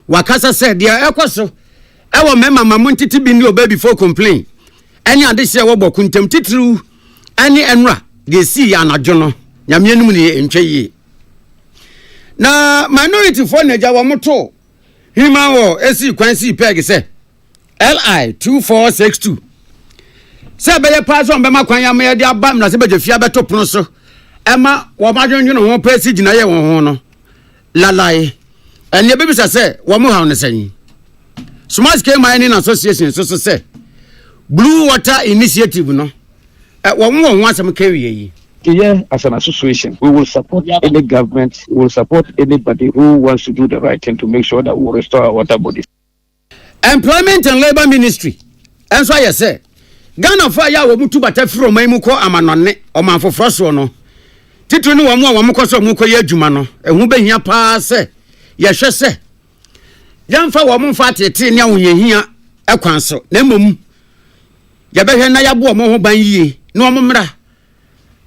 Wakasa sɛ, Deɛ ɛrekɔ so wɔ mmarima ma mo ntete bi ne ɔbaa before complain ne adehyeɛ a ɛwɔ bɔko ntam titiriw ne nwura deɛ ɛsii anadwo no, Nyame anim ne ɛntwa yie. Na minorityfoɔ na agya wɔn to human wɔ ɛsii kwan sii peg sɛ LI 2462 sɛ ɛbɛyɛ paa sɛ ɔmbɛma kwan ama yɛde aba mmarahyɛbadwafie abɛto pono so ɛma wɔn adwendwene ho pɛ si gyinaeɛ wɔn ho no. Lalai, ɛnna yɛbɛbisa sɛ wɔn haw no sɛn? Smuts K. Mining Association nso so sɛ, Blue Water Initiative no, wɔn wɔ ho asɛm ka awie yi. Yɛyɛ as an association, we will support any government, we will support anybody who wants to do the right thing to make sure that we will restore our water bodies. Employment and Labour Ministry nso ayɛ sɛ Ghanafoɔ a ɛyɛ a wɔtu bata firi ɔman mu kɔ amanɔnne ɔman foforɔ soɔ no, titire ne wɔn a wɔkɔ sɛ wɔrekɔyɛ adwuma no, ɛho bɛhia pa ara sɛ yɛhwɛ sɛ yɛmfa wɔn mfa ateetee ne ahohiahia kwan so, na mmom yɛbɛhwɛ na yɛabɔ wɔn ho ban yie na wɔmmra.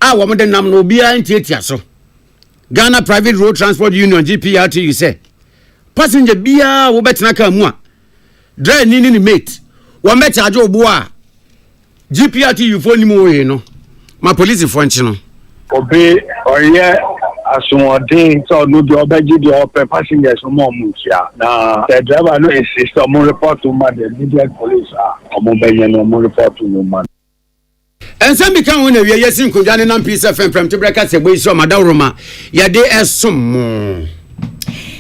a wɔde nam no obiara ntiatia so. Ghana Private Road Transport Union GPRTU sɛ passenger biara a wobɛtena kaa mu a draani ne ne mate wɔn bɛkyaagye oboɔ a GPRTU foɔ nim wɔ wei no ma polisifoɔ nkye no. Obi ɔyɛ asoɔden sɛ ɔno deɛ ɔbɛgye deɛ ɔpɛ passengers no ma ɔmo ntua na sɛ driver no insist ɔmo report ma the immediate police a ɔmo bɛnyɛ no ɔmo report no ma no. Nsɛm bi ka ho na wie yɛsi nkonnwa no nam pii sɛ fɛn prɛmtebrɛ kaseɛbɔ yi sɛ ɔma dawuroma yɛde ɛsom mo.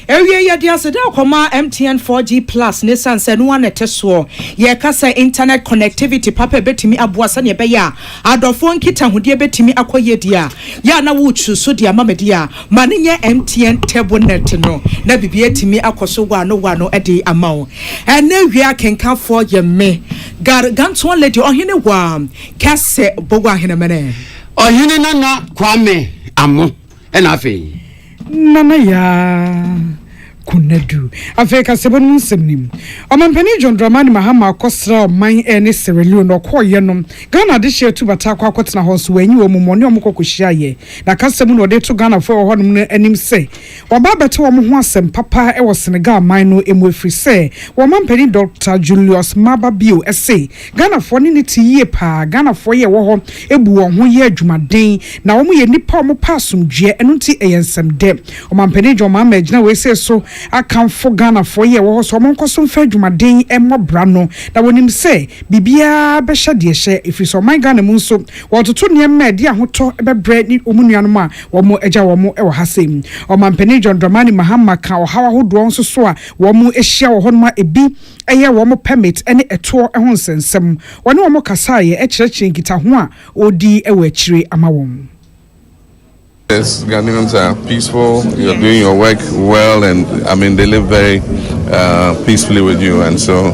Awie yɛde aseda akɔma MTN 4G Plus no ɛsiane sɛ ɛno ara na ɛte soɔ. Yɛka sɛ internet connectivity papa a ɛbɛtumi aboa sɛdeɛ ɛbɛyɛ a adɔfoɔ nkitahodie bɛtumi akɔ yie deɛ a, yɛ a na wo susu deɛ ama me deɛ a, ma no nyɛ MTN Turbo Net no na biribiara atumi akɔ so waa no waa no de ama wo. Ɛnnɛ wia kenkanfoɔ yɛ me. Gargantua Lady, Ɔhene Waa Kɛse Bogu Ahenemene. Ɔhene Nana Kwame Amo ɛna afei. Nana Yaa Konadu. Afei kaseɛbɔ no mu nsɛm nim. Ɔmampanin John Dramani Mahama akɔsra ɔman ɛne Sierra Leone, ɔkɔɔyɛ no Ghana adehyeɛ atu bata akɔ akɔtena hɔ nso wɔanyi wɔn mu ma ɔne wɔn kɔ kɔhyiaeɛ. N'akasa mu na ɔde to Ghanafoɔ a ɛwɔ hɔnom no anim sɛ Wɔaba abɛto wɔn ho asɛm papa wɔ Senegal man no mu ɛfiri sɛ wɔn mampanin Dɔkta Julius Maaba Bio se Ghanafoɔ ne no te yie paa, Ghanafoɔ yɛ ɛwɔ hɔ bu wɔn ho yɛ adwumaden na wɔn yɛ nnipa a wɔn pɛ asomdwoeɛ ɛno nti ɛyɛ nsɛm dɛ. Ɔmampanin John Mahama agyina wei sei so akamfo Ghanafoɔ yɛ ɛwɔ hɔ sɛ wɔn nkɔ so mfa adwumaden mmɔ bra no na wɔnim sɛ biribiara bɛhyɛ deɛ ɛhyɛ ɛfiri sɛ ɔman Ghana mu nso wɔretoto nneɛma a ɛde ahotɔ bɛbrɛ ne wɔn nuanom a Wɔagya wɔn wɔ ha sei. Ɔmampanin John Dramani Mahama ka ɔhaw ahodoɔ nso so a wɔhyia wɔ hɔnom a ɛbi yɛ wɔn pɛmit ne ɛtoɔ ho nsɛnsɛm. Ɔne wɔn kasaeɛ kyerɛkyerɛɛ nkitaho a ɔredi wɔ akyire ama wɔn. Yes, Ghanaians are peaceful, you are doing your work well and I mean they live very peacefully with you and so.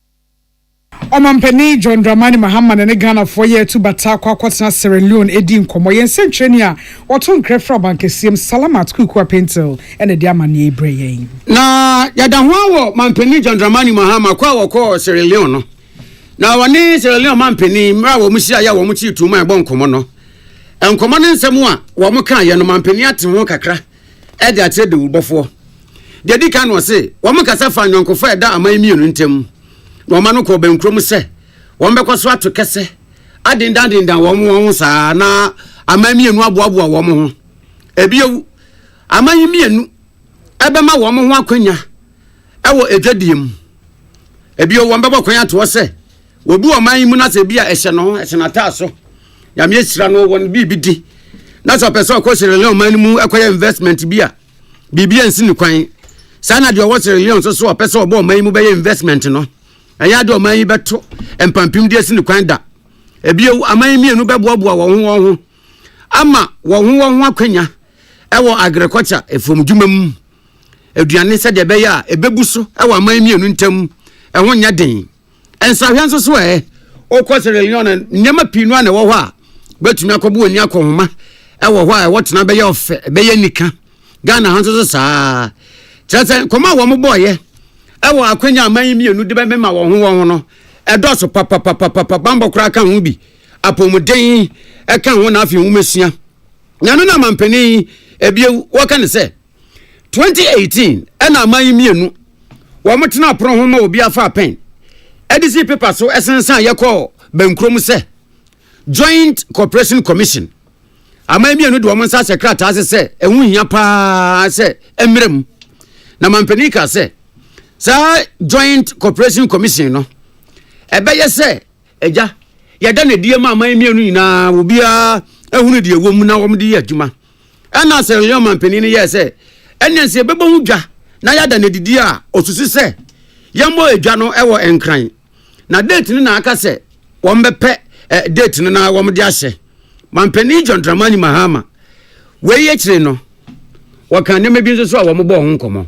Ɔmanpanin John Dramani Mahama ne ne Ghanafoɔ yɛ atu bataa akɔ akɔtena Sierra Leone redi nkɔmmɔ. Yɛn nsɛntwerɛni a ɔto nkrɛ fra Abankɛseɛ mu, Salamat Kuku Apentil na ɛde amanneɛ yi brɛɛ yɛn. Na yɛda ho ara wɔ Manpanin John Dramani Mahama kɔ a wɔkɔɔ Sierra Leone no. Na wɔne Sierra Leone manpanin mmerɛ a wɔn hyiaeɛ a wɔn kyee tuuma ɛbɔ nkɔmmɔ no. Nkɔmmɔ ne nsɛm a wɔn kaeɛ no, manpanin ate ho kakra. de akyerɛ dawurubɔfoɔ. Deɛ ɛdi kan no ɔse, wɔkasa fa nyɔnkofa a ɛda aman mmienu ntam, na wɔma no kɔɔ bɛnkurom sɛ wɔbɛkɔ so ato kɛsɛ adendandendan wɔn wɔn ho saa na aman mmienu aboaboa wɔn ho. Ebio, aman yi mmienu ɛbɛma wɔn ho akwanya ɛwɔ adwadie mu. Ebio, wɔbɛbɔ kwan ato hɔ sɛ. Wɔbu ɔman yi mu na sɛ bi a ɛhyɛ no ho, ɛhyɛ n'ataa so. Nyame ahyira no, wɔn biribi di. Na sɛ ɔpɛ sɛ ɔkɔ Sierra Leone man no mu ɛkɔyɛ investment bi a, biribi ansi ne kwan. Saa na deɛ ɔwɔ Sierra Leone nso so ɔpɛ sɛ ɔbɔ ɔman yi mu bɛyɛ investment no. Ɛyɛ ade ɔman yi bɛto mpampim de asi ne kwan da. Ebio, aman yi mmienu bɛboaboa wɔn ho wɔn ho ama wɔn ho wɔn ho akwanya ɛwɔ agriculture, efuom dwuma mu. Aduane sɛdeɛ ɛbɛyɛ a ɛbɛbu so ɛwɔ aman yi mmienu ntam, ɛho nyɛ den. Nsrahwɛ nso so ɛ, wokɔ Sierra Leone a, nneɛma pii no a na ɛwɔ hɔ a bɛtumi akɔbɔ w'ani akɔ homa ɛwɔ hɔ a ɛwɔ tena bɛyɛ ɔfɛ, bɛyɛ nika. Ghana ha nso so saa. Kyerɛ sɛ nkɔmɔ a wɔn bɔɔyɛ ɛwɔ akwanya aman yi mmienu de bɛmema wɔn ho wɔn ho no ɛdɔɔso papapapapa, bambɔ koraa ka ho bi, apɔmuden ɛka ho na afei nwomasua. Nyame no amampanin yi, ebio wɔka ne sɛ. Twenty eighteen ɛna aman yi mmienu wɔn tenaa pono ho ma obiara faa pɛn ɛde sii paper so ɛsensan yɛ kɔɔ bɛnkuro mu sɛ Joint Cooperation Commission aman mmienu de wɔn nsa ahyɛ krataa ase sɛ ɛho hia paa sɛ ɛmmerɛ mu na mampanin kaa sɛ saa Joint Cooperation Commission no ɛbɛyɛ sɛ Agya, yɛda no adie ma aman mmienu nyinaa, obiara hunu deɛ ɛwɔ mu na wɔn de yɛ adwuma. Ɛna sɛ yɛn ɔmanpanin no yɛɛ sɛ, ɛnneɛ sɛ yɛbɛbɔ ho dwa na yɛada no adidie a, ɔsusu sɛ yɛmmɔ dwa no wɔ Nkran. Na date no na aka sɛ wɔbɛpɛ eh, date no na wɔde ahyɛ. Manpanin John Dramani Mahama. Wei akyire no, wɔka nneɛma bi nso so a wɔbɔɔ ho nkɔmmɔ.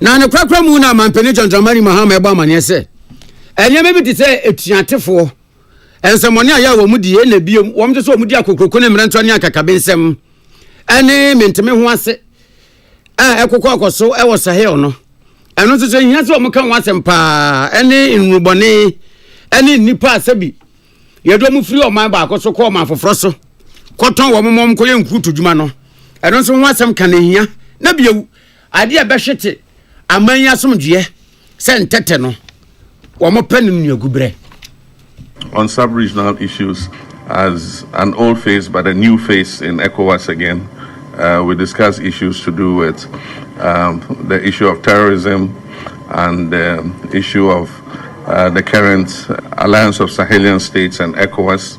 Na nokorɛkorɛ mu na Mampanin Twantrammani Mahama rebɔ amaneɛ sɛ, nneɛma bi te sɛ atuatefoɔ, nsɛmmɔne a ɛyɛ a wɔn die, ɛna bio wɔn nso so wɔn di akokuroko ne mmerɛntoa ne akakabensɛm, ɛne menteme ho ase a ɛkokɔ akɔ so wɔ Sahel no. Ɛno nso so ɛhia sɛ wɔn ka ho asɛm paa, ɛne nnurubɔne, ɛne nnipa a sɛbi yɛde wɔn firi ɔman baako so kɔ ɔman foforɔ so kɔtɔn wɔn ma wɔn kɔyɛ nkurutu dwuma no. Ɛno nso ho asɛm ka na ɛhia na bio Adeɛ a ɛbɛhwete aman yi asomdwoeɛ sɛ ntɛtɛ no, wɔpɛ no nnuaguberɛ. On sub-regional issues as an old face but a new face in Ecowas again, we discussed issues to do with the issue of terrorism and the issue of the current alliance of Sahelian states and Ecowas.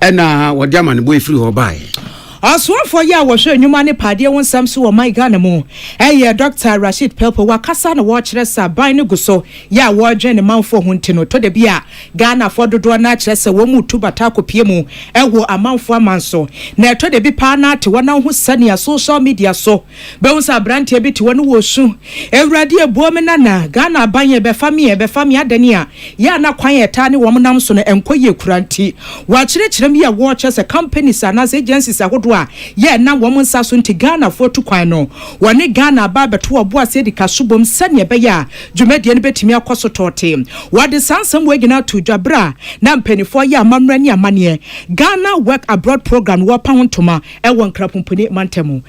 Ɛna wɔde amanebɔ efiri hɔ baeɛ. Ɔsoafoɔ yi a wɔhwɛ nnwuma ne paadeɛ ho nsɛm so wɔ man Ghana mu yɛ Dɔkta Rasheed Pelpo. Wakasa na wɔkyerɛ sɛ aban no gu so yɛ a wɔredwen ne manfoɔ ho nti no ɛtɔ da bi a Ghanafoɔ dodoɔ no ara kyerɛ sɛ wɔn mu retu bata akɔpie mu wɔ amanfoɔ aman so na ɛtɔ da bi paa no ara te wɔn ho sɛnea social media so Bɛhu sɛ abranteɛ bi te hɔ ne wɔsu Awurade a buo me nana Ghana aban a ɛbɛfa me a ɛbɛfa me adɛn a yɛ a na kwan a ɛtaa ne wɔn nam so no ɛnkɔ yie kura nti wɔakyerɛkyerɛ me yɛ wɔ kyerɛ sɛ companies anaasɛ agencies ahodoɔ a yɛ ɛnam wɔn nsa so nti Ghanafoɔ tu kwan no wɔne Ghana aba abɛto wɔn bo ase adi ka so bom sɛdeɛ ɛbɛyɛ a dwumadie no bɛtumi akɔ so tɔɔtee wɔde saa nsɛm wei nyinaa too dwa berɛ a na mpanimfoɔ reyɛ amammerɛ ne amanneɛ Ghana Work Abroad Programme no wɔrepa ho ntoma wɔ Nkrapumpuni mantam.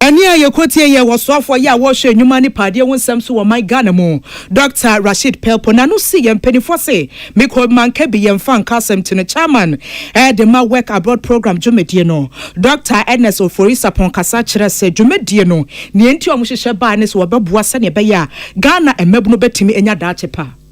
Ɛnne a yɛkɔtiee yɛ wɔ soafoɔ yɛ a wɔrehwɛ nnwuma ne paadeɛ ho nsɛm so wɔ ɔman Ghana mu, Dɔkta Rasheed Pelpo, n'ano si yɛn mpaninfoɔ se, Mekɔ manka bi yɛmfa nka asɛm nti no, Chairman de ma Work Abroad Program dwumadie no, Dɔkta Ernest Ofori-Sarpong kasa kyerɛ sɛ dwumadie no, nea nti a wɔhyehyɛ baeɛ ne sɛ wɔbɛboa sɛdeɛ ɛbɛyɛ a Ghana mmabunu bɛtumi anya daakye pa.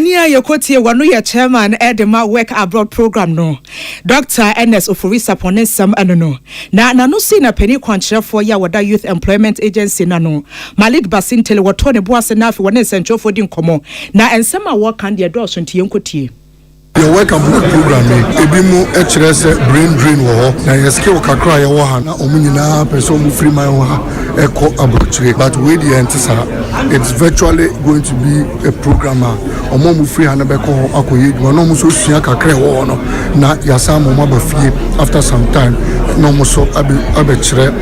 Nea yɛkɔtiee wɔ no yɛ Chairman de ma Work Abroad Program no, Dɔkta Ernest Ofori-Sarpong ne nsɛm ano no, na n'ano sii na Panin Kwankyerɛfoɔ yi a wɔda Youth Employment Agency no ano, Malik Basintele, wɔtoo ne bo ase na afei wɔne nsɛnkyerɛwfoɔ di nkɔmmɔ. Na nsɛm a wɔreka no deɛ ɛdɔɔso nti yɛnkɔtie. Yɛ work and blood program yi ebi mo kyerɛ sɛ brain drain wɔ hɔ na yɛ skill kakra a yɛ wɔ ha na ɔmo nyinaa pɛ sɛ ɔmo firi man ho ha kɔ abrokyire but wei deɛ ɛnte saa it's virtually going to be a program a ɔmo a ɔmo firi ha no bɛ kɔ hɔ akɔ yɛ adwuma na ɔmo nso sua kakra a ɛwɔ hɔ no na yɛ asan ama ɔmo aba fie after some time na ɔmo nso abɛ abɛkyerɛ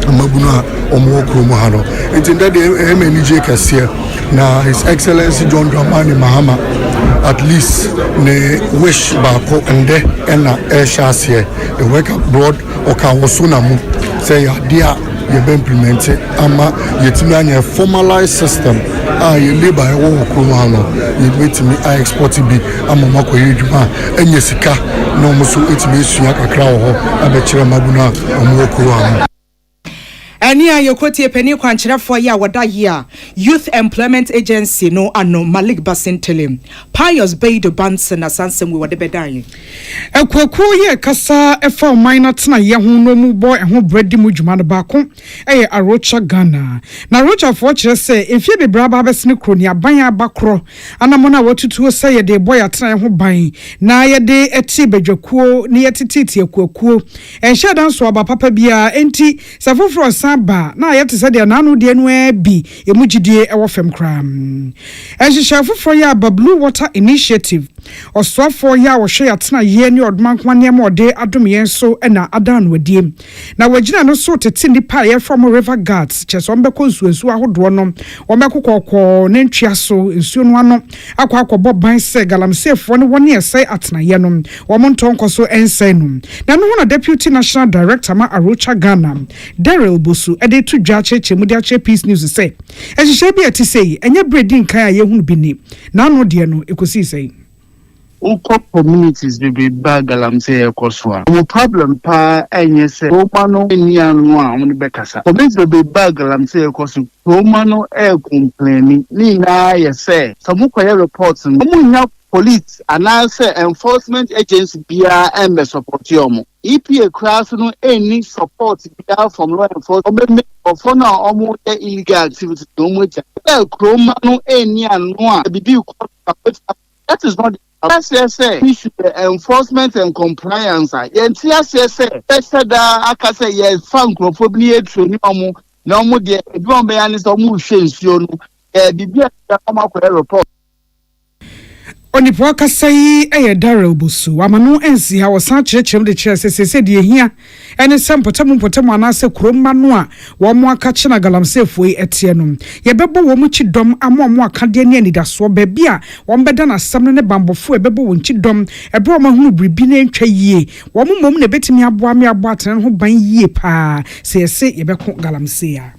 mmabunu a ɔmo wɔ kurom ha no nti ndɛ deɛ ɛyɛ mɛ anigye kɛseɛ. Na His Excellency John Dramani Mahama at least ne wish baako ndɛ ɛna ɛhyɛ aseɛ the work abroad ɔka wɔ so na mu sɛ yɛ adeɛ a yɛbɛ implement ama yɛtumi anyɛ formalized system a yɛ labour a ɛwɔ wɔ kurom ha no yɛbɛtumi a export bi ama ɔmo akɔyɛ adwuma a ɛnyɛ sika na ɔmo so ɛtumi asua kakra wɔ hɔ abɛkyerɛ mmabunu a ɔmo wɔ kurom ha no. Ɛnne a yɛkɔtie panin kwankyerɛfoɔ yi a ɔda Yea, Youth Employment Agency, no ano, Malik Basintele, Pius Beido Banse na Asansem Wei wɔde bɛdan yɛn. Akuakuo yi rekasa fa ɔman no atenaeɛ ho na wɔbɔ ho bra di mu dwuma no baako yɛ Arocha, Ghana. Na Arochafoɔ kyerɛ sɛ mfeɛ bebree aba abɛsene kuro ne aban a aba korɔ anammɔn a wɔatutuo sɛ yɛde rebɔ yɛn atenaeɛ ho ban na yɛde te badwakuo na yɛtetetete akuakuo Ɛnhyɛɛ da nsow aba papa biara, enti sɛ foforo san ba a, na ayɛ te sɛ deɛ n'ano deɛ no ara bi, emu gyidie wɔ fam koraa. Nhyehyɛe foforɔ yɛ aba, Blue Water Initiative. Ɔsoafoɔ yɛ a ɔhwɛ yɛn atenaeɛ ne ɔdomankoma nneɛma a ɔde adom yɛn so na adan no adi. Na wagyina ɛno so retete nnipa a yɛfrɛ wɔn River Guards, kyerɛ sɛ wɔbɛkɔ nsuwansuwa ahodoɔ no, wɔbɛkokɔkɔ ne ntwea so, nsuo no ano, akɔ akɔbɔ ban sɛ galamseyfoɔ ne wɔn ɛsɛe atenaeɛ no, wɔn ntɔ nkɔ so nsɛe no. Na ɛno ho na Deputy National Director ma Arocha Ghana, Derrill Obosu de reto dwa akyerɛkyerɛ mu de akyerɛ Peace News sɛ, nhyehyɛe bi a ɛte sɛ yi, ɛnyɛ berɛ a ɛdi nkan a yɛhunu bi nne, na ano deɛ no, ɛkɔsii sɛn? Wokɔ communities bebree ba galamsey ɛkɔ so a, wɔn problem paa ɛnyɛ sɛ kurowma no nni ano a wɔde bɛkasa. Communities bebree ba a galamsey ɛkɔ so, kurowma no ɛɛcomplaini. Ne nyinaa yɛ sɛ, sɛ wɔkɔyɛ report no, wɔnnya police anaasɛ enforcement agency biara ɛmmɛsupporte wɔn. EPA koraa so no ɛnni support biara from law enforcement. Wɔbɛmake nkurɔfoɔ no a wɔyɛ illegal activities no wɔn agya. Sɛ kurowma no ɛnni ano a, sɛ biribi rekɔ so a, wɔbɛtumi akɔ. That is not the aseɛ sɛ issue yɛ enforcement and compliance a yɛnte aseɛ sɛ bɛhyɛ daa aka sɛ yɛfa nkurɔfoɔ bi ne yɛtrani ɔmo na ɔmo deɛ ebi ɔmo bɛyɛ ne sɛ ɔmo rehwɛ nsuo no yɛ biribi a ɛda ɔmo akɔyɛ report. Onipa ɔkasa yi yɛ Darrell Bosu. Wama no ansi ha, ɔsan kyerɛkyerɛm de kyerɛ sɛ seesei deɛ ɛhia ɛne sɛ mpɔtam mpɔtam anaasɛ kuro mma no a wɔn aka kyena galamseefoɔ yi teɛ no, yɛbɛbɔ wɔn kyidɔm ama wɔn akadeɛ ne anidasoɔ, baabi a wɔn bɛda no asɛm no ne banbɔfoɔ a ɛbɛbɔ wɔn kyidɔm ɛberɛ a wɔn ahunu biribi na ɛntwa yie, wɔn mmom na ɛbɛtumi aboa me abɔ atena no ho ban yie pa ara sɛ yɛse yɛbɛko galamsee a.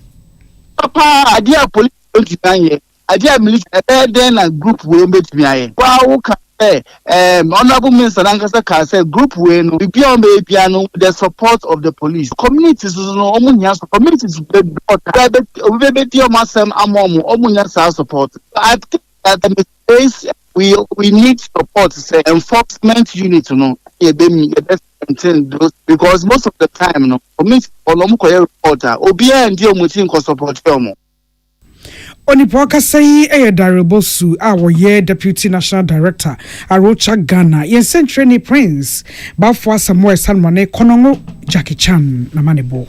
Papa adeɛ a polisifoɔ nti kan yɛ. Ade a mini sɛ ɛbɛyɛ dɛn na group wei betumi ayɛ. Wo ara wo ka sɛ ɛɛm honourable minister no ankasa kaa sɛ group wei no biribi a wɔn bɛyɛ biara no with the support of the police. Communities nso no wɔn hia so communities bebree a bɛ obi bɛ bɛdi wɔn asɛm ama wɔn wɔn nya saa support. So I think that in this case we we need support sɛ enforcement unit no yɛ bɛ mi yɛ bɛ maintain those because most of the time no community wɔn wɔn kɔ yɛ report a obiara ndi wɔn ti nkɔ support wɔn. Onipa a ɔkasa yi yɛ Daryl Bosu a ɔyɛ Deputy National Director, Arocha Ghana. Yɛn sɛnkyerɛnni Prince Baffour Asamoah Esanwa ne Konongo Jackie Chan n'amanebo.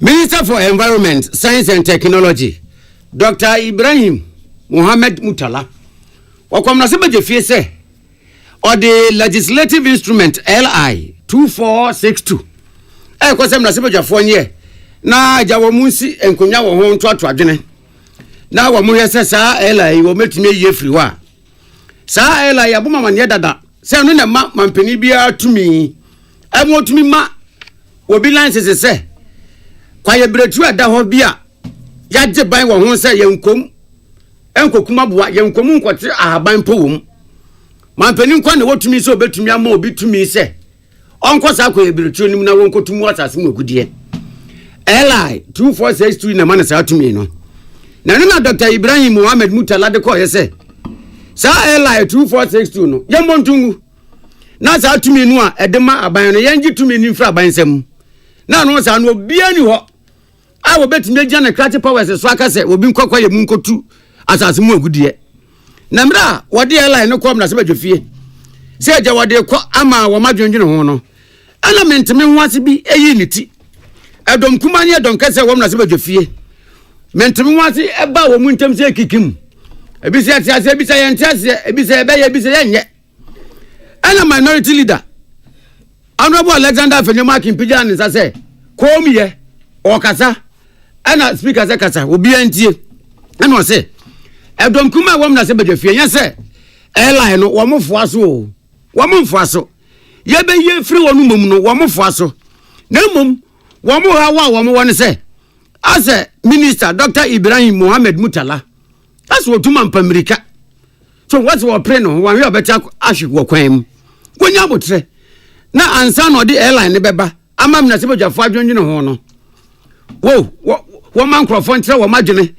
Minister for Environment, Science and Technology, Doctor Ibrahim Mohammed Murtala, wɔkɔmena sɛ bɛgye fie sɛ. Ɔde Legislative Instrument LI 2462 a ɛkɔ sɛ mmarahyɛbadwafoɔ nyɛ na agya wɔn mu nsi nkonnwa wɔ ho ntoatoa adwene na wɔn hwɛ sɛ saa LI yi wɔbɛtumi ayi afiri hɔ a saa LI abom amanneɛ dada sɛ ɛno na ɛma mampanin biara tumi ɛma ɔtumi ma wɔbi lansese sɛ kwaeɛ berɛtuo a ɛda hɔ bi a yɛagye ban wɔ ho sɛ yɛn nkom Nkokum aboa, yɛ nkɔm nkɔkyere ahaban mpo wom. Mampanin kwan na wɔtumi sɛ wɔbɛtumi ama obi tumi sɛ ɔnkɔ saa kɔyɛbiretuo no mu na wɔnkɔtu mu asase mu agudeɛ. Eli 2463 na ɛma no saa tumi no. Na ɛno na Dr. Ibrahim Mohammed Murtala de kɔɔyɛ sɛ saa Eli 2462 no yɛmmɔ nto ngu na saa tumi no a ɛde ma aban no yɛngye tumi no mfiri aban nsam mu. Na ano saa no obiara ni hɔ. a wɔbɛtumi agyina ne krakye powers so aka sɛ obi nkɔ kwaeɛ mu nkɔtu asase mu agudeɛ na mmerɛ a wɔde airline no kɔɔ mmarahyɛ badwafie sɛ agya wɔde kɔ ama wɔn adwendwene ho no ɛna menteme ho ase bi ɛyii ne ti ɛdɔm kuma ne ɛdɔm kɛsɛ wɔ mmarahyɛ badwafie menteme ho ase ɛba wɔn ntam sɛ ɛkikim ebi sɛ ɛte aseɛ ebi sɛ yɛnte aseɛ ebi sɛ ɛbɛyɛ ebi sɛ yɛnyɛ ɛna minority leader honourable alexander afenyom akin pagyaa ne nsa sɛ koomyɛ ɔkasa ɛna speaker sɛ kasa obiara ntie ɛna ɔsɛ ɛdɔm kuma ɛwɔ mu na sɛ bɛdwa fie nyɛ sɛ airline no wɔn mfoa so o wɔn mfoa so yɛbɛyɛ firi wɔn mmom no wɔn mfoa so na mmom wɔn ha wɔ a wɔn wɔ no sɛ asɛ minister dr ibrahim mohammed mutala That's what you man pamirika. So what's what pray no one way better ash wo kwan mu. When you abotre na ansa na the airline ne beba ama na se beja fo adwendwene ho no. Wo wo man krofo ntre wo madwene.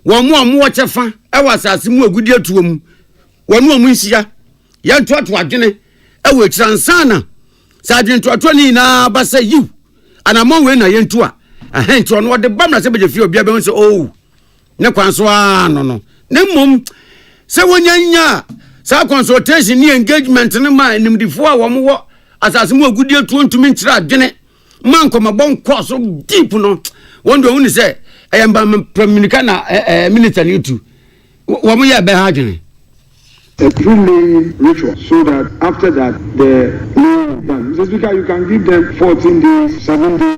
Wo mo mo chefa e wa asase mu agudi atuo mu. Wo no mu nsia. Ye nto ato adwene e wo ekira ansa na sa adwene to ato ni na ba se you. Anamon we na ye nto a. Ahen tro no de ba na se beja fi obi abe ho se oh. ne kwan so ara no no, na mmom sɛ wonya nya saa consultation ne engagement no ma animdefo a wɔn wɔ asase mu agudie tuo ntumi nkyerɛ adwene ma nkɔmɔbɔ nkɔɔ so deep no wɔn deɛ wɔn sɛ ɛyɛ mba mpaminika na ɛɛ minister ne tu wɔn yɛ ɛbɛha adwene. a tree laying ritual so that after that the no done. Mr. Speaker, you can give them 14 days, 7 days.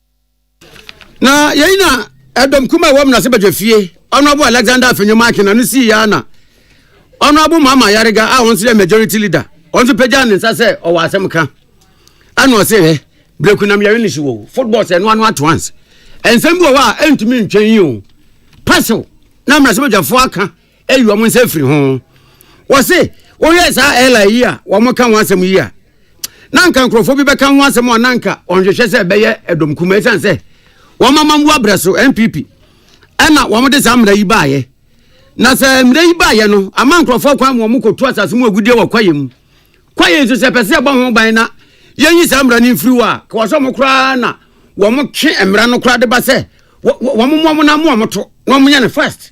na yɛyi na ɛdɔm kuma ɛwɔ mu na se badwa fie ɔnoabo alexander afenyom akin na no sii ya na ɔnoabo mama yarega a wɔn nso yɛ majority leader wɔn nso pagya ne nsa sɛ ɔwɔ asɛm ka ɛna ɔse hɛ breku nam yɛre ne si wɔ football sɛ ɛnoa no ato ans ɛnsɛm bi wɔ hɔ a ɛntumi ntwɛn yi o pasew na mmara sɛ badwafoɔ aka Eyi wɔn nsa firi ho. Wɔse wohwɛ saa airline yi a wɔka ho asɛm yi a, na anka nkurɔfoɔ bi bɛka ho asɛm a na anka wɔnhwehwɛ sɛ ɛbɛyɛ ɛdɔm kuma ɛsiane sɛ wɔn amammuo abrɛ so, NPP, ɛna wɔde saa mmara yi baeɛ. Na sɛ mmara yi baeɛ no, ama nkurɔfoɔ kwan ma wɔkɔtu asase mu agudeɛ wɔ kwaeɛ mu. Kwaeɛ nso sɛ ɛpɛ sɛ yɛbɔ ho ban na yɛnyi saa mmara no mfiri hɔ a, ka wɔ sɛ wɔn koraa na wɔtwe mmara no koraa de ba sɛ wɔn wɔn na ama wɔn to na wɔnyɛ no fast.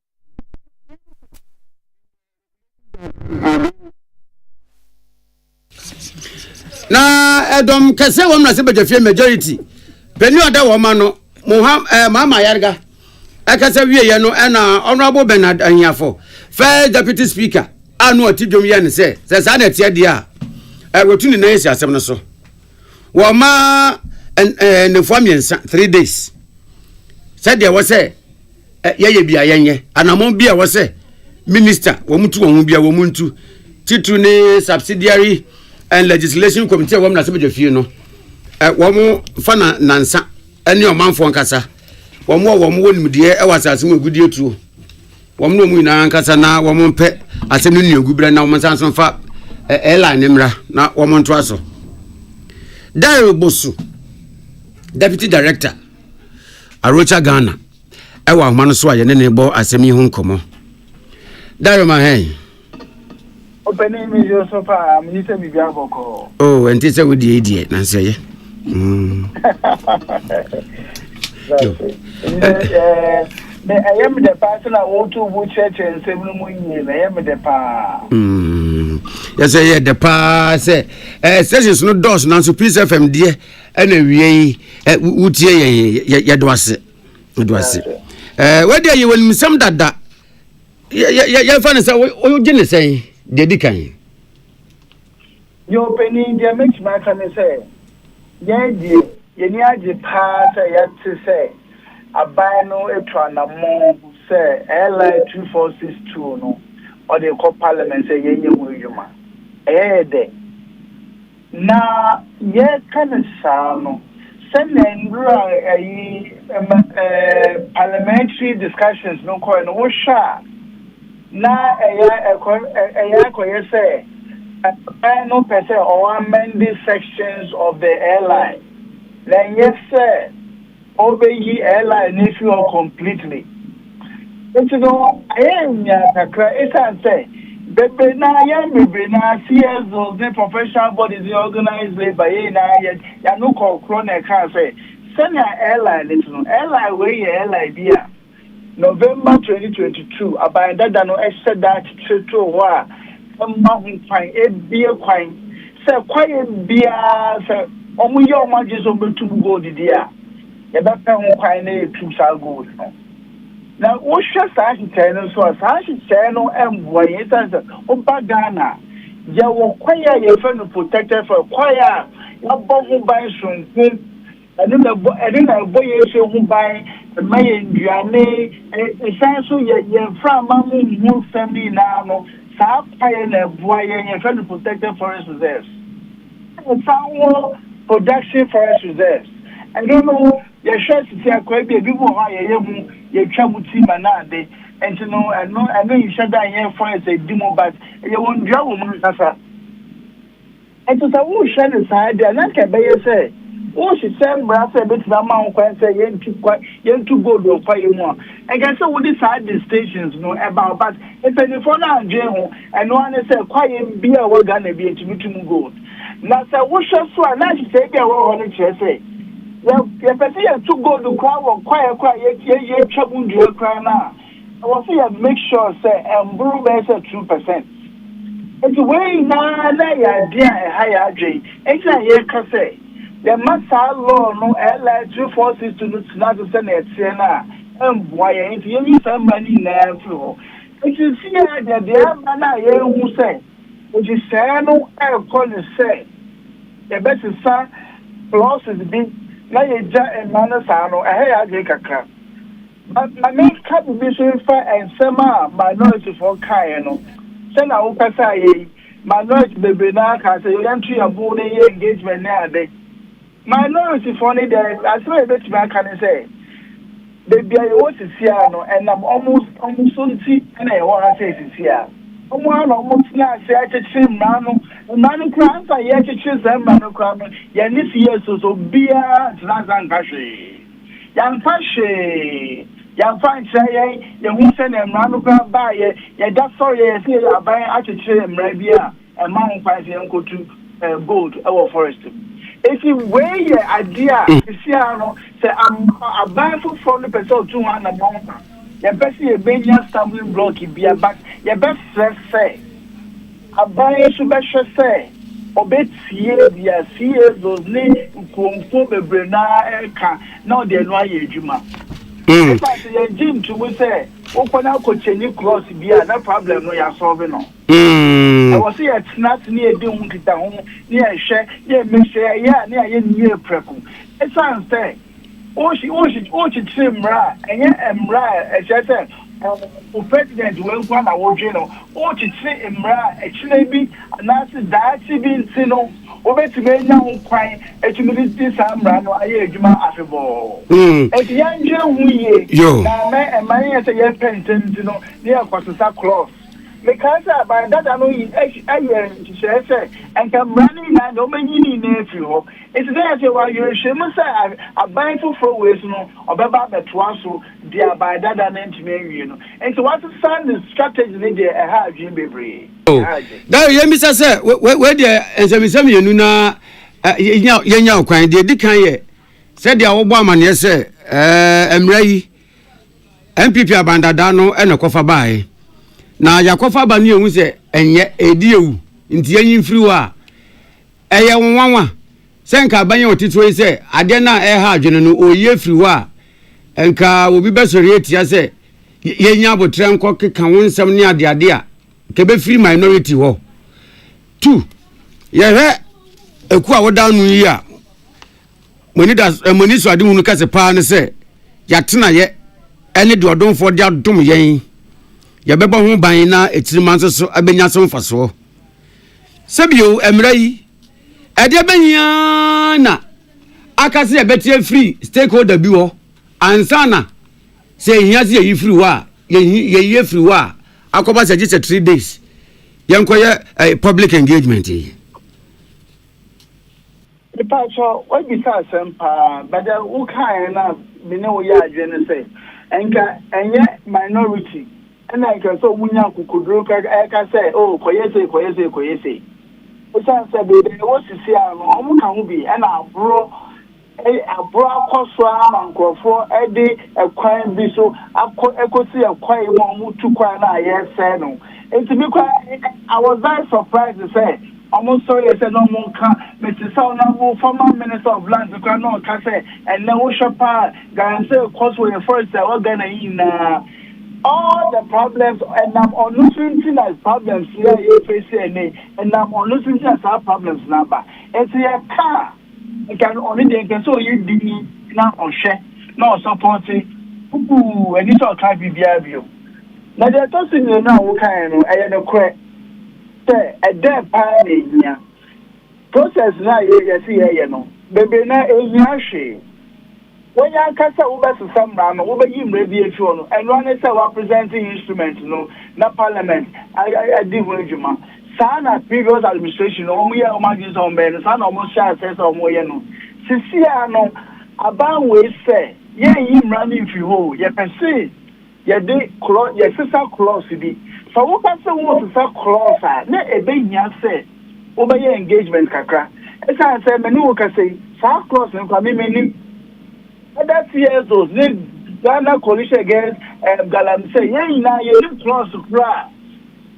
na ɛdɔm kɛse wɔn na se bɛgya fie majority bɛni ɔda wɔn ma no muham ɛɛ eh, mahama yarga ɛkasa wie yɛ no ɛna honourable bernard ahiafo fɛ deputy speaker a no ɔte dwom yɛ ne sɛ sɛ saa na ɛteɛ deɛ a ɛɛ wɔtu ne nan esi asɛm no so wɔn ma ɛɛ eh, eh, nnefoa mmiɛnsa three days sɛdeɛ wɔ sɛ. Yɛyɛ bi a yɛnyɛ anammɔn bi a ɛwɔ sɛ minista wɔn tu wɔn ho bi a wɔn ntu titiri ne subsidiary and legislation committee a wɔn na sɛbɛdwa fie no wɔn fa na nansa ne ɔmanfoɔ nkasa wɔn a wɔn wɔ nimdeɛ wɔ asase mu agudie tuo wɔn na wɔn nyinaa nkasa na wɔn mpɛ asɛm no nnuagu berɛ na wɔn nsa nso mfa airline ne mmra na wɔn ntoa so. Daryl Bosu, deputy director. Arocha Ghana ɛwɔ ahoma no so a yɛne ne bɔ asɛm yi ho nkɔmmɔ. Dayo ma hɛn. Ɔpɛni mi yɛ so paa, mi ni sɛ bibi abɔ kɔɔ. Oh, ɛnti sɛ wo deɛ yi deɛ, nanso ɛyɛ. Mm. ɛyɛ me dɛ paa sɛ na wotu wo kyerɛkyerɛ nsɛm no mu yie na ɛyɛ me dɛ paa yɛsɛ yɛ dɛ paa sɛ sessions no dɔɔso nanso peace fm deɛ ɛna awiei wotie yɛn yɛdo ase yɛdo ase wɛdeɛ yɛ wɔnim sɛm dada yɛmfa no sɛ wogye ne sɛn deɛ di kan yɛwɔ panin deɛ mɛtumi aka ne sɛ yɛn deɛ yɛni agye paa sɛ yɛte sɛ aban no atu anammo sɛ li 2462 no ɔde kɔ parliament sɛ yɛnyɛ ho adwuma ɛyɛ yɛ dɛ Na yɛreka no saa no, sɛnea nnura ayi ma ɛɛ parliamentary discussions no kɔe no, wohwɛ a na ɛyɛ ɛkɔ ɛyɛ akɔyɛ sɛ ban no pɛ sɛ ɔamend sections of the airline, na ɛnyɛ sɛ. Ɔbɛyi Eli no afi hɔ completely. Nti no, ayɛ nyaa kakra ɛsiane sɛ bebree no ara, yɛn bebree no ara, CS zones ne professional bodies ne organized labour, yɛn nyinaa yɛ yɛn ano kɔɔ korɔ na ɛkaa sɛ, sɛnea Eli no te no, Eli wei yɛ Eli bi a, November twenty twenty two, aban dada no hyɛ da kyekyere too hɔ a ɛma ho kwan, ebue kwan sɛ kwaeɛ biara sɛ wɔyɛ wɔn adwene sɛ wɔbɛtu mu gold deɛ a, yɛbɛpɛ ho kwan na yɛtu saa gold no. Na wohwɛ saa nhyehyɛe no nso a, saa nhyehyɛe no mmoa yɛn esiane sɛ woba Ghana a, yɛwɔ kwaeɛ a yɛfrɛ no protected forest, kwaeɛ a yɛabɔ ho ban sononko. Ɛno na ɛbɔ ɛno na ɛbɔ yɛn nsuo ho ban, ɛma yɛn nnuane, ɛ ɛsan nso yɛ yɛn mframa mu mmu nsɛm ne nyinaa no, saa kwaeɛ na ɛboa yɛn, yɛfrɛ no protected forest reserves. Ɛna ɛsan wɔ production forest reserves, ɛno no yɛhwɛ sisi akwaa bi a ebi wɔ hɔ a yɛyɛ mu, yɛtwa mu timma ne ade, nti no ɛno ɛno nhyɛ da nyɛ forest a ɛdi mu but yɛwɔ nnua wɔ mu ankasa. Enti sɛ worehwɛ no saa de a, na anka ɛbɛyɛ sɛ worehyehyɛ mmara sɛ ebetumi ama ho kwan sɛ yentu kwa, yentu gold wɔ kwae mu a, anka ɛsɛ sɛ wode saa distinctions no ba hɔ. But mpanyimfo no andwen ho, ɛno ara ne sɛ kwae biara a ɛwɔ Ghana biara etumi tu mu gold. Na sɛ wohwɛ nso a, na nhyehyɛe bi a ɛwɔ hɔ no kyerɛ sɛ yɛpɛ sɛ yetu gold koraa wɔ kwae koraa a yetwa mu nnua koraa no a, Ɛwɔ sɛ yɛ make sure sɛ ɛmboro bɛyɛ sɛ two percent. Nti wei nyinaa na ɛyɛ adeɛ a ɛha yɛ adwen. Ɛnti na yɛka sɛ yɛma saa law no LI three four six two no tena ase sɛnea ɛteɛ no a ɛmboa yɛn. Nti yɛnyi saa mmara no nyinaa mfiri hɔ. Nti seesei ara deɛ deɛ aba no a yɛrehu sɛ nhyehyɛeɛ no ɛrekɔ ne sɛ yɛbɛsesa clauses bi na yɛgya mmara no saa no ɛha yɛ adwen kakra. Ma ma menka biribi nso mfa nsɛm a minorityfoɔ kaeɛ no, sɛdeɛ wokasa a yei, minority bebree no ara kaa sɛ yɛnto yɛn bo na yɛnyɛ engagement ne ade. Minorityfoɔ no deɛ, asɛm a yɛbɛtumi aka ne sɛ, baabi a yɛwɔ seesei ara no, ɛnam wɔn wɔn so nti na yɛwɔ ha sei seesei ara. Wɔn ara na wɔtena ase akyekyere mmara no. Mmara no koraa, ansa yɛrekyekyere saa mmara no koraa no, yɛn nne so yɛɛ so sɛ obiara ntena ase anka hwee. Yɛamfa hwee. Yɛamfa ankyerɛ yɛn. Yɛahu sɛnea mmara no koraa baeɛ. Yɛda sɔre a yɛsɛ yɛyɛ aban akyekyere mmara bi a ɛma ho kwan sɛ yɛnkɔtu gold wɔ forest mu. Enti wei yɛ adeɛ a seesei ara no sɛ aban foforɔ no pɛ sɛ ɔtu ho anammɔn a, Yɛpɛ sɛ yɛbɛnya stumbling block biara but yɛbɛsrɛ sɛ aban yi nso bɛhwɛ sɛ ɔbɛtie deɛ CSOs ne nkurofoɔ bebree no ara reka na ɔde ɛno ayɛ adwuma. Mepa sɛ yɛngye ntomu sɛ wokɔ na akɔkyɛnyi cross bi a na problem no yɛasɔlve no. Ɛwɔ sɛ yɛtena ase ne yɛdi ho nkitaho ne yɛhwɛ ne yɛ make sure yɛyɛ a ne yɛayɛ no yie prɛko. Ɛsiane sɛ. Wokyekyere mmara a, ɛnyɛ mmara a ɛkyerɛ sɛ wo president wei nko ara na wodwen no. Wokyekyere mmara a, akyire bi anaasɛ daakye bi nti no, wobɛtumi anya ho kwan atumi de de saa mmara no ayɛ adwuma afebɔɔ. Enti yɛndwen ho yie na ama ɛmma ɛnyɛ sɛ yɛpɛ ntɛm nti no na yɛkɔsesa clause. Mekae sɛ aban dada no ayɛ nhyehyɛeɛ sɛ anka mmara no nyinaa deɛ wɔbɛnyi ne nyinaa afiri hɔ. Enti sɛ yɛte wɔ awerɛhyem mu sɛ aban foforo wei so no, ɔbɛba abɛtoa so deɛ aban dada no antumi anwie no. Enti wɔasesa ne strategy no deɛ ɛha adwene bebree. Oh, Ɛha adwene. Dario, yɛmmisa sɛ, wei, wei, wei deɛ nsɛmmisa mmienu na eh, yɛnya, yɛnya wo kwan. Deɛ ɛdi kan yɛ sɛdeɛ wobɔ amanneɛ sɛ eh, mmara yi, NPP aban dada no na ɛkɔfa baeɛ. Na yɛakɔfa aba no yɛhu sɛ ɛnyɛ, ɛredi awu. Nti yɛnyi mfiri hɔ a, Ɛyɛ wo nwanwa sɛ nka abɛyɛ wo titire yi sɛ adeɛ no a ɛreha adwene no ɔreyi afiri hɔ a, nka obi bɛsɔre atia sɛ yɛnya aboterɛ nkɔ keka wo nsɛm ne adeade a nka ɛbɛfiri minority hɔ. Tu yɛhwɛ ɛkuo a woda ano yi a mo anisoadehunu kɛse paa ne sɛ yɛatenaeɛ ɛne deɛ ɔdomfoɔ de adom yɛn, yɛbɛbɔ ho ban na akyirima nso so abɛnya so mfasoɔ. Sɛ bio, mmara yi, ɛdeɛ bɛhe ara na aka sɛ yɛbɛte afiri stakeholder bi hɔ ansa na sɛ yɛhia sɛ yɛyi firi hɔ a, yɛyi afiri hɔ a, akɔba sɛ gye sɛ three days yɛnkɔyɛ eh, public engagement yi. Mepatwɔ w'abisa asɛm paa bɛdɛ wo kaeɛ no a me ne wo yɛ adwene ne sɛ nka ɛnyɛ minority na nka sɛ ɔmo nya akokoduro ɛka sɛ oh kɔyɛ sei kɔyɛ sei kɔyɛ sei ɛsiane sɛ bebɛ ɛwɔ sisi ara no ɔmo ka ho bi ɛna aborɔ aborɔ akɔ so ara ma nkorɔfoɔ ɛde ɛkwan bi so akɔ ɛkɔsi ɛkwan yi mu a ɔmo tu kwan no a yɛsɛe no nti me kwan I was very surprised sɛ Wɔsɔreɛ sɛ na wɔnka Mestiçao no agu, former Minister of Lands koraa na ɔka sɛ ɛnnɛ wohwɛ paa a, Galamsey rekɔ so wɔ yɛn forests a ɛwɔ Ghana yi nyinaa. All the problems, ɛnam ɔno so nti na problems yi a yɛrefeesi ɛnnɛ yi, ɛnam ɔno so nti na saa problems no aba. Nti yɛka a, nka ɔno deɛ nka sɛ ɔyɛ bini na ɔhwɛ na ɔsɔpɔɔte pupuu, ɛnni sɛ ɔka biribiara bio. Na deɛ ɛtɔ so mmienu a wokaeɛ no, ɛyɛ nokorɛ. sɛ ɛdɛn paa na ehia. Process no a yɛse yɛyɛ no, bebree no ara enhia hwee. Wo yɛn ankasa wobɛsesa mmara no, wobeyi mmara bi afi hɔ no, ɛno ara ne sɛ woapresɛnte instrument no na Parliament adi ho adwuma. Saa na previous administration no wɔyɛɛ wɔn adwene sɛ wɔbɛyɛ no, saa na wɔhyɛɛ aseɛ sɛ wɔyɛ no. Seesei ara no, aban wei sɛ yɛnyi mmara no mfi hɔ o, yɛpɛ se Yɛde klɔ, yɛsesa klɔs bi. Sɛ woka sɛ woresesa klɔs a, na ebehia sɛ wobɛyɛ engagement kakra. Esiane sɛ me ne wo rekasa yi, saa klɔs no koraa, me minnim. Other CSOs ne Ghana Coalition Against um, Galamsey, yɛn nyinaa yɛnnim klɔs koraa.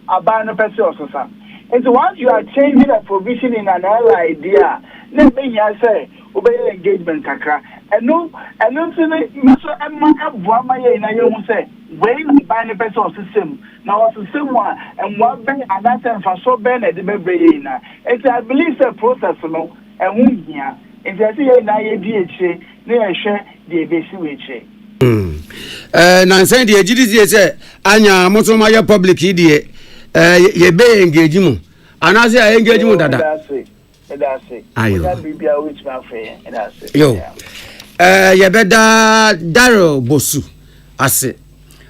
Aban no pɛ sɛ ɔsesa. Nti once you are changing a provision in an LI deɛ a, na ɛbɛhia sɛ wobɛyɛ engagement kakra. Ɛno ɛno nti no me so ɛma ɛboa ma yɛn nyinaa yɛhu sɛ wei na aban no pɛ sɛ ɔsesa mu. Na ɔsesa mu a, mmoa bɛn anaasɛ mfasoɔ bɛn na ɛde bɛbrɛ yɛn nyinaa. Nti I believe sɛ process no ɛho hia. Nti ɛsɛ yɛn nyinaa yɛdi akyire na yɛnhwɛ deɛ ɛbɛsi wɔ akyire. Hmm. Eh, nansɛn deɛ gye di sie sɛ anya mo nso ma yɛ public yi deɛ eh, yɛbɛ engage mu anaasɛ a engage mu dada ayo yo eh, yɛbɛda daryl bosu ase.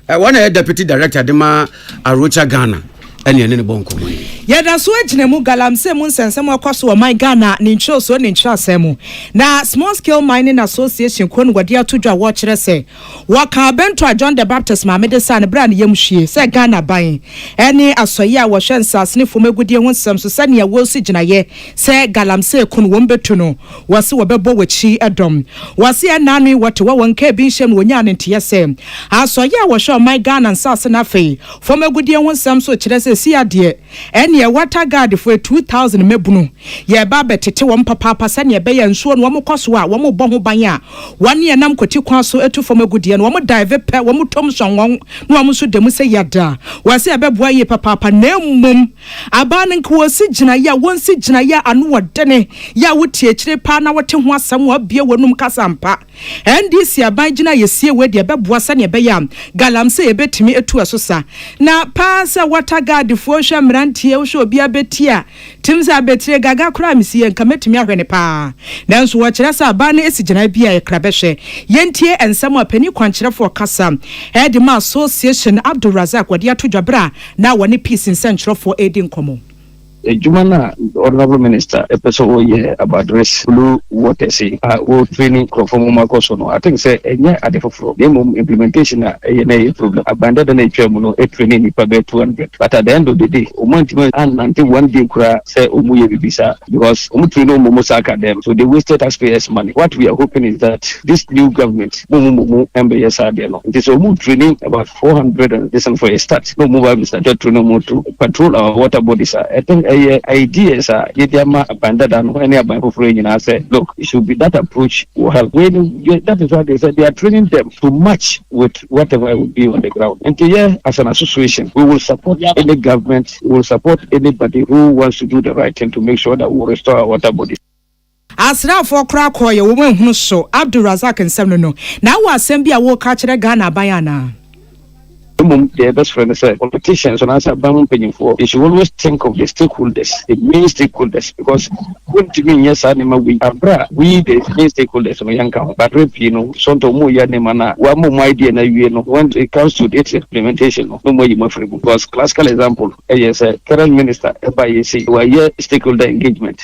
Ɛwɔ na ɛyɛ Deputy Director de ma Arocha Ghana ɛne ɛne ne bɔ nkɔmmɔ yi. Yɛda so agyina mu galamsey mu nsɛnsɛm a ɔkɔ so wɔ ɔman Ghana ne nkyerɛwsoɔ ne nkyerɛasɛm mu. Na Small Scale Mining Association kuo no wɔde ato dwa a wɔkyerɛ sɛ wɔka Abento a John the Baptist maame de saa no berɛ a ne yam hwie sɛ Ghana ban ɛne asɔeɛ a wɔhwɛ nsase ne fam agudie ho nsɛm so sɛnea wɔresi gyinaeɛ sɛ galamsey ko no wɔbɛtu no Wɔse wɔbɛbɔ w'akyi dɔm. Wɔse ɛnna ano yi wɔte hɔ wɔnkaa bi nhyɛm na wɔnyaa no nteɛ sɛ asoɛeɛ a wɔhwɛ ɔman Ghana nsase no afei fam agudeɛ ho nsɛm so kyerɛ sɛ ɛsi adeɛ ɛneɛ water guard foɔ 2000 mmabunu yɛreba abɛtete wɔn papaapa sɛdeɛ ɛbɛyɛ a nsuo no wɔkɔ so a wɔbɔ ho ban a wɔne ɛnam kwati kwan so ɛtu fam agudeɛ no wɔn dive pɛ wɔn tom sɔngɔn na wɔn nso da mu sɛ yɛda wɔse ɛbɛboa yie papaapa na mmom Aban no nkoa si gyinaeɛ a wɔnsi gyinaeɛ a ano wɔ dene, yɛ a wote akyire paa na wote ho asɛm wɔ abue w'anom kasa ampa. NDC aban gyinaeɛsie wei deɛ ɛbɛboa sɛdeɛ ɛbɛyɛ a galamsey bɛtumi atu ɛso sa. Na paa sɛ water guard foɔ hwɛ mmeranteɛ wohwɛ obi abɛti a tim sɛ abɛtire gaga koraa mesi yɛ nka mɛtumi ahwɛ no paa nanso wɔkyerɛ sɛ aban no asi gyinaeɛ bi a ɛkra bɛhwɛ. Yɛntie nsɛm a panin kwankyerɛfoɔ kasa de ma Association Abdul Razak wɔde ato dwa berɛ a Na wɔne Peace nsɛnkyerɛfoɔ redi nkɔmmɔ. Adwuma no a the Honourable Minister pɛ sɛ ɔyɛ ab address blue waters yi a ɔretraini nkurɔfoɔ ma wɔakɔ so no, I think sɛ ɛnyɛ ade foforɔ na mmom implementation a ɛyɛ na ɛyɛ problem. Aban dada no a ɛtwaa mu no ɛtraini nnipa bɛyɛ two hundred but at the end of the day wɔn antumi annante one day koraa sɛ wɔyɛ biribi saa because wɔtraini wɔn ma wɔsan ka dɛm so they wasted taxpayers money. What we are hoping is that this new government na ɔmo mmom mbɛyɛ saa adeɛ no nti sɛ ɔmo training about four hundred and this and for a start na ɔmo ba abisa dɛ turo na ɔmo to patrol our water bodies a ɛtɛ ɛyɛ ideas a yɛde ama aban dada no ɛne aban foforɔ yɛ nyinaa sɛ look it should be that approach will help wei no that is why they said they are training them to match with whatever it will be on the ground nti yɛ as an association we will support any government we will support anybody who wants to do the right thing to make sure that we restore our water bodies. Asraafoɔ koraa kɔɔeɛ wɔn anhunu so Abdul Razak nsɛm no no na wowɔ asɛm bi a woreka akyerɛ Ghana aban anaa? Mmom deɛ yɛbɛsrɛ ne sɛ politicians anaasɛ aban mu mpanyinfoɔ they should always think of the stakeholders, the main stakeholders because wontumi nyɛ saa nneɛma wei a berɛ a we the main stakeholders no yɛnka ho but berɛ pii no sɔntɔ ɔmo reyɛ nneɛma no a wɔama ɔmo idea no awie no when it comes to its implementation no na ɔmo ayi mo afiri mu because classical example yɛ sɛ current minister baeɛ sei wayɛ stakeholder engagement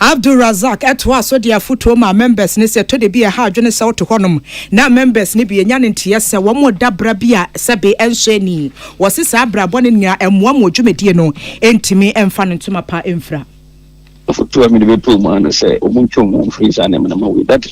Abdul-Razaq toaa so de afotuo maa members no sɛ ɛtɔ da bi a ɛha adwene sɛ wote hɔnom na members no bi nya no nteɛ sɛ wɔreda bra bi a sɛbe ɛnsɔ ani. Wɔse saa abrabɔ no nyinaa ɛmmoa ma wɔ dwumadie no ntumi mfa no ntoma pa mfira. Afotuo a mede bɛtoo mu ara ne sɛ wɔntwe wɔn ho mfiri saa nneɛma no mma wɔnni dapɛn.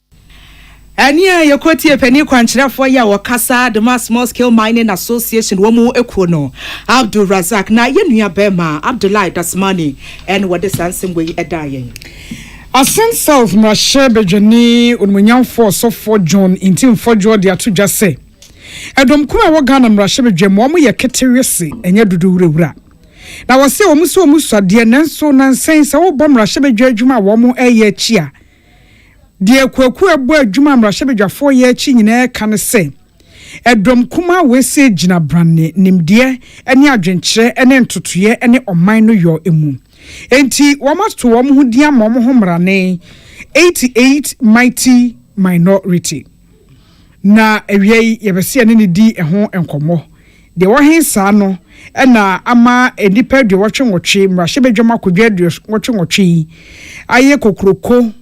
Ɛnne a yɛkɔtiee panin kwankyerɛfoɔ yi a ɔkasa de ma Small Scale Mining Association wɔn kuro no, Abdul Razak, na yɛn nua barima Abdullahi Dasmani ɛna wɔde saa nsɛm wei daa yɛn. Asin South mmarahyɛ badwani onimuonyamfoɔ Ɔsɔfoɔ John Ntim Fɔdwoɔ de ato dwa sɛ ɛdɔm kuo a ɛwɔ Ghana mmarahyɛ badwam wɔn yɛ ketewe se ɛnyɛ dodo wurawura. Na wɔse wɔn se wɔn su adeɛ nanso nansa yi sɛ wobɔ mmarahyɛ badwa adwuma a wɔn ɛyɛ akyi a Deɛ akuakuo a ɛbɔ adwuma a mmarahyɛbadwafoɔ yɛ akyi nyinaa reka ne sɛ, Ɛdɔm kumaa wei sɛ gyina brane, nimdeɛ ne adwenkyerɛ ne ntotoeɛ ne ɔman no yɔ mu. Enti wɔatoto wɔn ho din ama wɔn ho mmarane, 88 Mighty Minority. Na awia yi yɛpɛ sɛ yɛne no di ɛho nkɔmmɔ. Deɛ ɛwɔ he saa no na ama nnipa aduɔwɔtwe nwɔtwe, mmarahyɛbadwam akɔdwa aduɔwɔtwe nwɔtwe yi ayɛ kokuroko,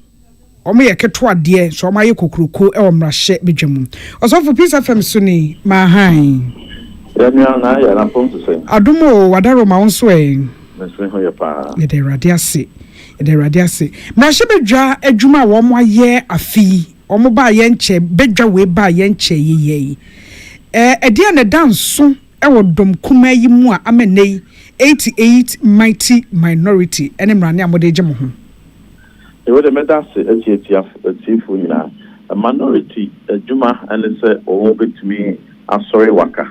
wɔn yɛ ketewa deɛ, nso wɔn ayɛ kokuroko wɔ mmarahyɛbadwa mu. Ɔsɔfo Peace FM so ni, maa hann. Yɛn nua Naa Yɛ, n'apɔm te sɛn? Adom o, Wadaroma wo nso ɛ? Me nso me ho yɛ paa. Yɛda Awurade ase, yɛda Awurade ase. Mmarahyɛbadwa adwuma a wɔayɛ afe yi. Wɔn baa yɛn nkyɛn, badwa wei baa yɛn nkyɛn yi yɛn. Ɛɛ, ɛdeɛn na ɛda nso wɔ dɔm kumaa yi mu a ama nnɛ yi 88 mighty minority ne mmrane a mode regye mo ho? Wei deɛ mɛda ase akyia atiafo, atiefoɔ nyinaa. Minority adwuma ne sɛ wɔn bɛtumi asɔre waka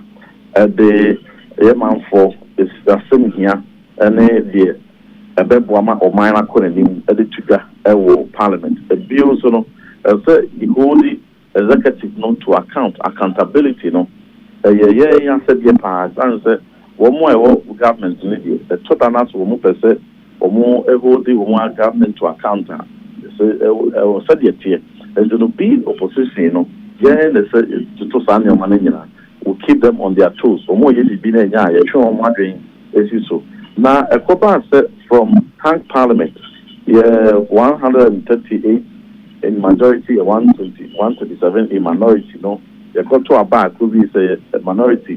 de yɛ manfoɔ basitasɛm hia ne deɛ ɛbɛboa ma ɔman no akɔ n'anim de to dwa wɔ Parliament. Bio nso no, ɛsɛ sɛ the holy executive no to account, accountability no yɛ yɛn asɛdeɛ pa ara ɛsiane sɛ wɔn a ɛwɔ government no deɛ, ɛtɔ da no a sɛ wɔn pɛ sɛ wɔn hold wɔn government to account a, ɛsɛ ɛwɔ sɛdeɛ ɛteɛ. Nti no, being opposition no, yɛn na ɛsɛ yɛtoto saa nneɛma no nyinaa We keep them on their toes, wɔyɛ biribi na ɛnyɛ a yɛtwe wɔn adwene si so. Na ɛkɔbaa sɛ from Tank Parliament yɛ one hundred and thirty eight in majority yɛ one twenty, one twenty seven in minority no, yɛkɔto aba a ɛkɔwiee sɛ yɛ minority.